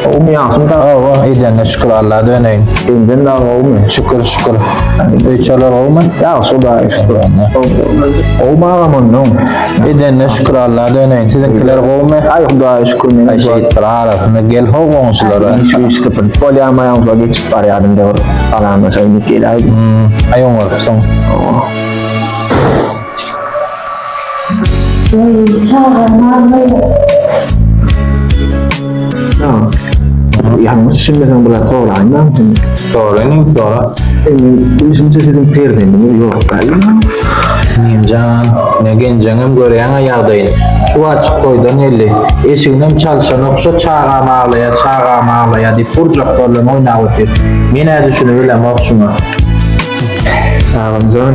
Gowumy ýagşymy dagy? Gowy, eýdende şükür Alla döneýin. Senden dagy gowumy? Şükür, şükür. Öýçalar gowumy? Ýagşy Hudaýa şükür. Gowumy agam onnoň? Eýdende şükür Alla döneýin. Siziňkiler gowumy? Aý Hudaýa şükür meniň. Aý şeýtdir arasynda gel ho goňşulara. Şu işlipin. Bolýamy ýaňyja geçip barýadym döwür. Balamda şeýdip gel aý. Aý oňarypsyň. Ýalňyş düşünmeseň bular soraýma. Soraýyn, sora. Endi düşünje sizin perzendiňiz ýok gaýyn. Ninjan, ne genjeňem görýäň-ä ýagdaýyny. Şu açyk toýdan geldi. Eşiginem çalşanok, şo çagam aglaýar, çagam aglaýar diýip gurjaklar bilen oýnap otyr. Men-ä düşünibilemok şuňa. Sagalymjan.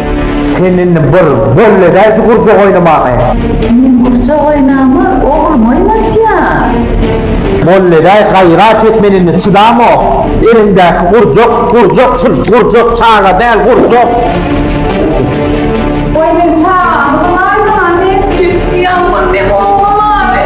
Sen indi bir bol edäý şu gurjak oýnamaňy. Men gurjak oýnama oglum oýnatýan. Bol edäý gaýrat et men indi çydamok. Eliňdäki gurjak gurjak çyl gurjak çaga däl gurjak. Goý men çagamy gylaýyn ha men süýtli ýalbur beg oglum abi.